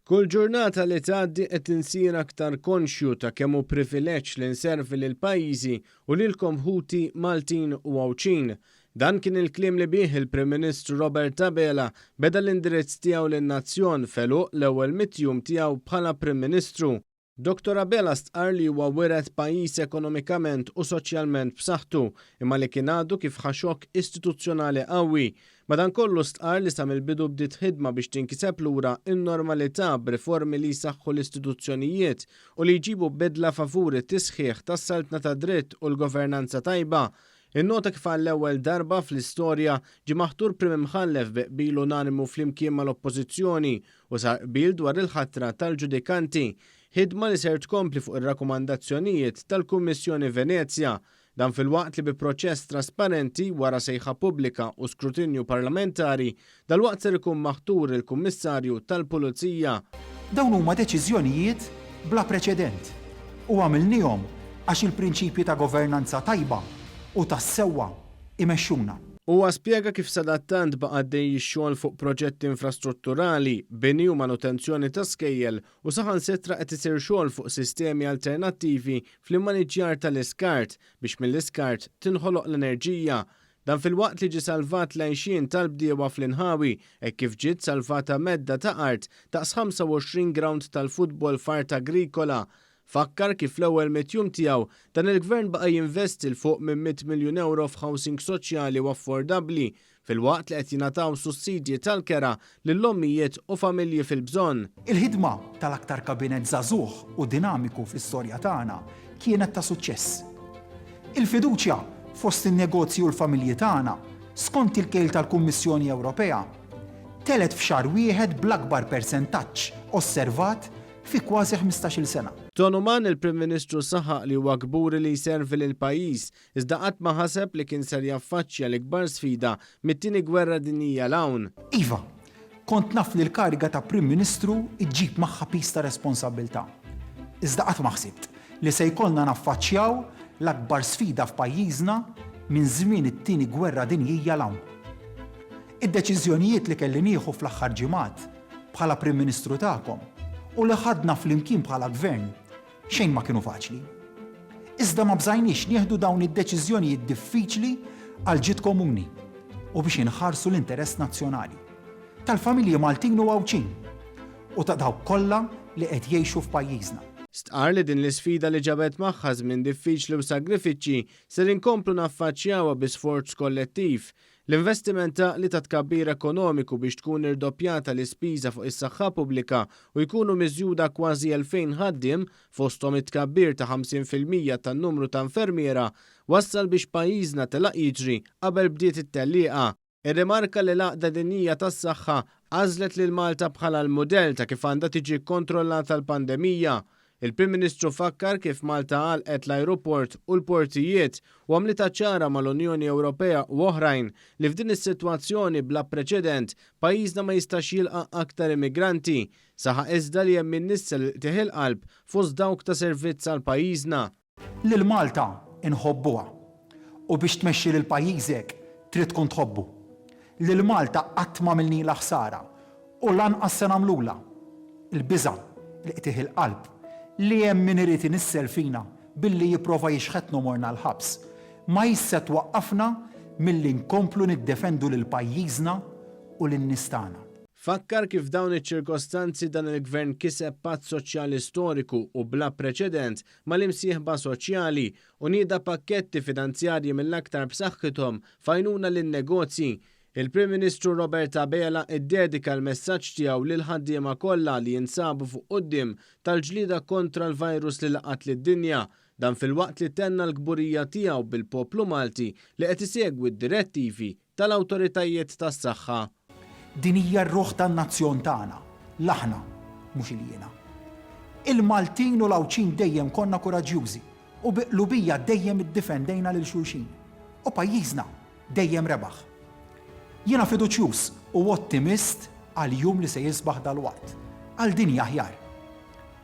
Kull ġurnata li tgħaddi qed insir aktar konxju ta' kemm hu privileġġ li nservi lil pajjiżi u lilkom ħuti Maltin u Għawdxin. Dan kien il-kliem li bih il-Prim Ministru Robert Abela beda l-indirizz tiegħu lin-nazzjon f'għeluq l-ewwel mitt jum tiegħu bħala Prim Ministru. Dottor Abela stqarr li huwa wiret pajjiż ekonomikament u soċjalment b'saħħtu, imma li kien għadu kif ħa xokk istituzzjonali qawwi. Madankollu stqarr li sa mill-bidu bdiet ħidma biex tinkiseb lura n-normalità b'riformi li jsaħħu l-istituzzjonijiet u li jġibu bidla favur it-tisħiħ tas-saltna tad-dritt u l-governanza tajba. Innota kif għall-ewwel darba fl-istorja ġie maħtur Prim Imħallef bi qbil unanimu flimkien mal-Oppożizzjoni u sar qbil dwar il-ħatra tal-ġudikanti, ħidma li ser tkompli fuq ir-rakkomandazzjonijiet tal-Kummissjoni Venezja, dan filwaqt li bi proċess trasparenti wara sejħa pubblika u skrutinju parlamentari, dalwaqt ser ikun maħtur il-Kummissarju tal-Pulizija. Dawn huma deċiżjonijiet bla preċedent u għamilniehom għax il-prinċipji ta' governanza tajba u tas-sewwa, imexxuna. Huwa spjega kif sadattant baqa' għaddej ix-xogħol fuq proġetti infrastrutturali, bini u manutenzjoni ta' skejjel u saħansitra qed isir xogħol fuq sistemi alternattivi fl-immaniġġjar tal-iskart biex mill-iskart tinħoloq l-enerġija. Dan filwaqt li ġie salvat l-għixien tal-bdiewa fl-inħawi hekk kif ġiet salvata medda ta' art daqs 25 grawnd tal-futbol f'art agrikola Fakkar kif fl-ewwel mitt jum tiegħu, dan il-Gvern baqa' jinvesti 'l fuq minn mitt miljun ewro f'housing soċjali u affordabbli, filwaqt li qed jingħataw sussidji tal-kera lil ommijiet u familji fil-bżonn. Il-ħidma tal-aktar Kabinett żagħżugħ u dinamiku fl-istorja tagħna kienet ta' suċċess. Il-fiduċja fost in-negozji u l-familji tagħna, skont il-kejl tal-Kummissjoni Ewropea, telgħet f'xahar wieħed bl-akbar persentaġġ osservat fi kważi ħmistax-il sena. Donovan, il-Prim Ministru saħaq li huwa kburi li jservi lill-pajjiż, iżda qatt ma ħaseb li kien ser jaffaċċja l-ikbar sfida mit-Tieni Gwerra Dinjija 'l hawn. Iva, kont naf li l-kariga ta' Prim Ministru ġġib magħha piż ta' responsabbiltà. Iżda qatt ma ħsibt li se jkollna naffaċċjaw l-akbar sfida f'pajjiżna minn żmien it-Tieni Gwerra Dinjija 'l hawn. Id-deċiżjonijiet li kelli nieħu fl-aħħar ġimgħat bħala Prim Ministru tagħkom u li ħadna flimkien bħala Gvern xejn ma kienu faċli. Iżda ma bżajniex nieħdu dawn id-deċiżjonijiet diffiċli għall-ġid komuni u biex inħarsu l-interess nazzjonali tal-familji Maltin u Għawdxin u ta' dawk kollha li qed jgħixu f'pajjiżna. Stqarr li din l-isfida li ġabet magħha żmien diffiċli u sagrifiċċji ser inkomplu naffaċċjawha bi sforz kollettiv L-investiment għaqli ta' tkabbir ekonomiku biex tkun irdoppjata l-ispiża fuq is-saħħa pubblika u jkunu miżjuda kważi 2,000 ħaddiem, fosthom it-tkabbir ta' 50 fil-mija tan-numru ta' infermiera, wassal biex pajjiżna telaq jiġri qabel bdiet it-tellieqa. Irrimarka li l-Għaqda Dinjija tas-Saħħa għażlet lil Malta bħala l-mudell ta' kif għandha tiġi kkontrollata l-pandemija, Il-Prim Ministru fakkar kif Malta għalqet l-ajruport u l-portijiet u għamlitha ċara mal-Unjoni Ewropea u oħrajn li f'din is-sitwazzjoni bla preċedent pajjiżna ma jistax jilqa' aktar immigranti. Saħaq iżda li hemm min nissel il-qtigħ il-qalb fost dawk ta' servizz għal pajjiżna. Lil Malta nħobbuha u biex tmexxi lil pajjiżek trid tkun tħobbu. Lil Malta qatt m'għamilnilha ħsara u lanqas se nagħmlulha. Il-biża', il-qtigħ il-qalb li hemm min irid inissel fina billi jipprova jixħetna u morna l-ħabs, ma hix se twaqqafna milli nkomplu niddefendu lil pajjiżna u lin-nies tagħna. Fakkar kif f'dawn iċ-ċirkostanzi dan il-Gvern kiseb patt soċjali storiku u bla preċedent mal-imsieħba soċjali u nieda pakketti finanzjarji mill-aktar b'saħħithom f'għajnuna lin-negozji. Il-Prim Ministru Robert Abela ddedika l-messaġġ tiegħu lill-ħaddiema kollha li jinsabu fuq quddiem tal-ġlieda kontra l-virus li laqat lid-dinja, dan filwaqt li tenna l-kburija tiegħu bil-poplu Malti li qed isegwi d-direttivi tal-awtoritajiet tas-saħħa. Din hija r-ruħ tan-nazzjon tagħna, l-aħna, mhux il-jiena. Il-Maltin u l-Għawdxin dejjem konna kuraġġjużi u bi qlubija dejjem iddifendejna lil xulxin. U pajjiżna dejjem rebaħ. Jiena fiduċjuż u ottimist għall-jum li se jisbaħ dalwaqt, għal dinja aħjar.